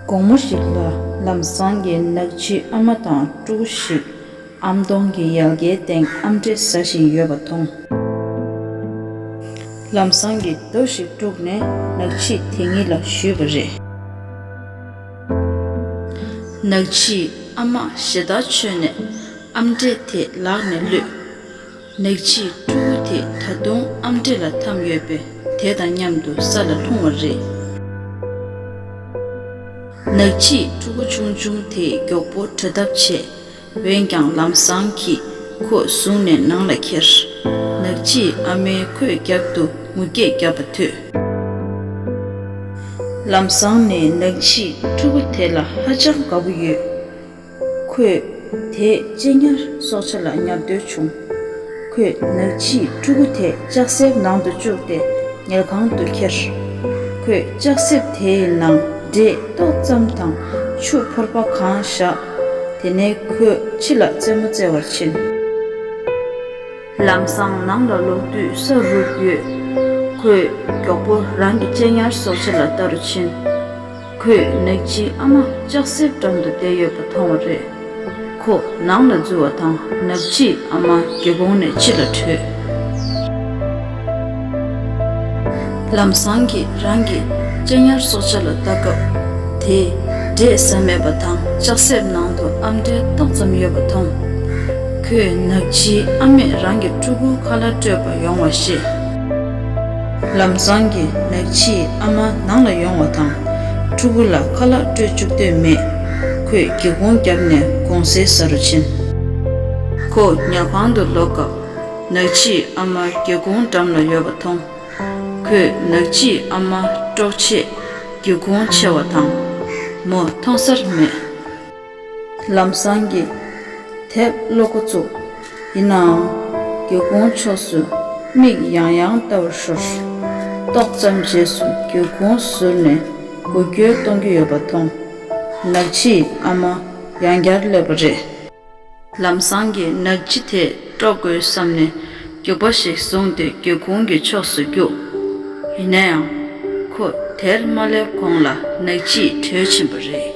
དགོང་མོ་ཞིག་ལ་ལམ་སང་གི་ནགས་ཕྱིའི་ཨ་མ་དང་སྤྲུག་གུ་ཞིག་ཨམ་སྟོང་གི་ཡལ་གའི་སྟེང་ཨམ་འབྲས་ཟ་བཞིན་ཡོད་པ་མཐོང། ལམ་སང་གི་རྡོ་ཞིག་སྤྲུག་ནས་ནགས་ཕྱིས་དེ་གཉིས་ལ་གཞུས་པ་རེད། ནག་ཕྱིས་ཨ་མ་ཞེ་ད་ཆོད་ནས་ཨམ་འབྲས་དེ་ལག་ནས་བླུད། ནག་ཕྱིས་ཕྲུ་གུ་དེ་ད་དུང་ཨམ་འབྲས་ལ་འཐམས་ཡོད་པས་དེ་དང་མཉམ་དུ་ས་ལ་ལྷུང་བ་རེད། ནག་ཕྱིས་ཕྲུ་གུ་ཆུང་ཆུང་དེ་མགྱོགས་པོ་བྲོས་ཐབས་བྱས། འོན་ཀྱང་ལམ་བཟང་གིས་ཁོ་བཟུང་ནས་ནང་ལ་ཁྱེར། ནག་ཕྱིས་ཨ་མའི་ཁོས་རྒྱབ་ཏུ་ངུ་སྐད་བརྒྱབ་པ་ཐོས། ལམ་བཟང་ནི་ནག་ཕྱིས་ཕྲུ་གུ་དེ་ལ་ཧ་ཅང་དགའ་པོ་ཡོད། ཁོས་དེས་གཅེས་ཉར་སྲོག་ཆགས་ལ་ཉར་འདོད་བྱུང། ཁོས་ནགས་ཕྱིའི་ཕྲུ་གུ་དེ་ལྕགས་གསེབ་ནང་དུ་བཅུག་སྟེ་ཉལ་ཁང་དུ་ཁྱེར། ཁོས་ལྕགས་གསེབ་དེའི་ནང་འདྲེས་ཏོག་ཙམ་དང་ཆུ་ཕོར་པ་གང་བཞག་དེ་ནས་ཁོས་ཕྱི་ལ་རྩེད་མོ་རྩེ་བར་ཕྱིན། ལམ་སང་ནང་ལ་ལོག་དུས་ས་རུབ་ཡོད། ཁོས་མགྱོགས་པོ་རང་གི་གཅེས་ཉར་སོགས་ཕྱི་ལ་བལྟ་རུ་ཕྱིན། ཁོས་ནག་ཅིག་ཨ་མ་ལྕགས་སྲེག་སྒྲོམ་དུ་བསྡད་ཡོད་པ་མཐོང་བ་རེད། ཁོ་ནང་ལ་འཛུལ་བ་དང་ནག་ཅིག་ཨ་མ་སྒེའུ་ཁུང་ནས་ཕྱི་ལ་བྲོས། ལམ་བཟང་གིས་རང་གི་སྤྱན་ཉར་སྲོག་ཆགས་ལ་བལྟ་སྐབས། དེས་འབྲས་ཟ་མེད་པ་དང་ལྕགས་སྲེག་ནང་དུ་ཨ་མྲའི་ཏོག་ཙམ་ཡོད་པ་མཐོང། ཁོས་ནག་ཅིག་ཨ་མས་རང་གི་ཕྲུ་གུ་ཁ་ལ་སྤྲོད་པར་ཡོང་བ་ཤེས། ལམ་བཟང་གི་ནག་ཕྱིས་ཨ་མ་ནང་ལ་ཡོང་བ་དང་ཕྲུ་གུ་ལ་ཁ་ལག་སྤྲོད་བཅུག་འདོད་མེད། ཁོས་སྒེའུ་ཁུང་བརྒྱབ་ནས་དགོང་ཟས་ཟ་རུ་ཕྱིན། ཁོ་ཉལ་ཁང་དུ་ལོག་སྐབས་ནག་ཕྱིས་ཨ་མ་སྒེའུ་ཁུང་འགྲམ་ལ་ཡོད་པ་མཐོང། ཁོས་ནག་ཕྱིས་ཨ་མ་དཀྲོག་ཆེད་སྒེའུ་ཁུང་ཕྱེ་བ་དང། མོ་མཐོང་སར་མེད། ལམ་སང་གི་དེབ་ཀློག་མགོ་བཙུགས། ཡིན་ནའང། སྒེའུ་ཁུང་ཕྱོགས་སུ་མིག་ཡང་ཡང་བལྟ་བར་ཤོར། ཏོག་ཙམ་རྗེས་སུ་སྒེའུ་ཁུང་ཟུར་ནས་འགུལ་སྐྱོད་གཏོང་གི་ཡོད་པ་མཐོང། ནག་ཕྱིའི་ཨ་མ་ཡང་བསྐྱར་སླེབས་པ་རེད། ལམ་སང་གི་ནགས་ལྗི་དེ་དཀྲོག་དགོས་བསམ་ནས་རྒྱུག་པ་ཞིག་བཟུང་སྟེ་སྒེའུ་ཁུང་གི་ཕྱོགས་སུ་རྒྱུགས། ཡིན་ན་ཡང། ཁོ་དེར་མ་སླེབས་གོང་ལ་ནགས་ལྗིས་དྲོས་ཕྱིན་པ་རེད།